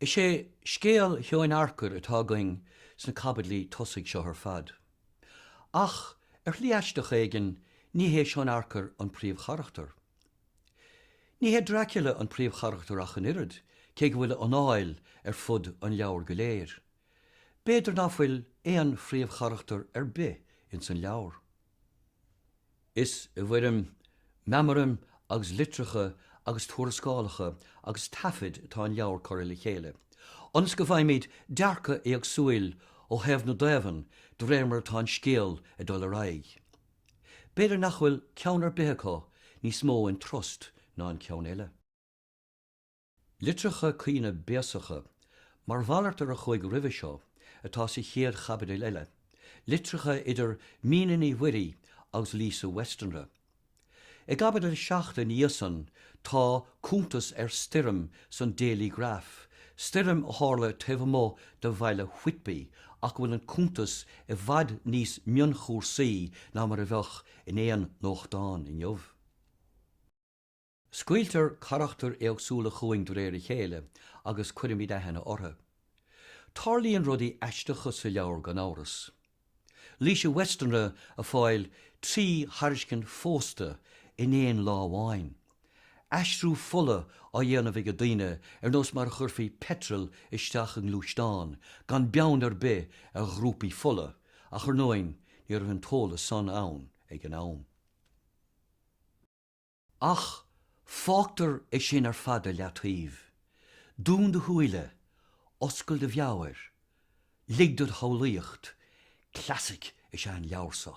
Is é scéal Sheoin Arcair atá againn sna caibidlí tosaigh seo ar fad. Ach, ar shlí aisteach éigin, ní hé Seon Arcair an príomhcharachtar. Ní hé Dracula an príomhcharachtar ach an oiread, cé go bhfuil a anáil ar fud an leabhair go léir. B'fhéidir ná fuil aon phríomhcharachtar ar bith ins an leabhar. Is i bhfoirm meamaraim agus litreacha agus tuarascálacha agus taifid atá an leabhar curtha le chéile, ionas go bhfaighimid dearcadh éagsúil ó thaobh na dtaobhann de réir mar atá an scéal ag dul ar aghaidh. B'fhéidir nach bhfuil ceann ar bith acu níos mó iontrust ná an ceann eile. Litreacha caoine béasacha, mar mhalairt ar a chuaigh roimhe seo, atá sa chéad chaibidil eile, litreacha idir Mina Ní Mhuirí agus Lucy Westenra. I gcaibidil a seacht ina dhiaidh san tá cuntas ar stoirm san Dailygraph, stoirm a tharla taobh amuigh de bhaile Whitby ach a bhfuil an cuntas i bhfad níos mionchúisí ná mar a bheadh in aon nuachtán inniu. Scaoiltear carachtair éagsúla chugainn de réir a chéile agus cuirimid aithne orthu. Tarlaíonn rudaí aisteacha sa leabhar gan amhras. Lucy Westenra ag fáil trí thairiscint phósta in aon lá amháin. Aistriú fola á dhéanamh ag daoine ar nós mar a chuirfí peitreal isteach i ngluaisteán, gan beann ar bith ar ghrúpaí fola, ach ar ndóigh ní raibh an t-eolas san ann ag an am. Ach fágtar é sin ar fad ar leataobh. Dún do shúile, oscail do mheabhair, lig do do shamhlaíocht, clasaic is ea an leabhar seo.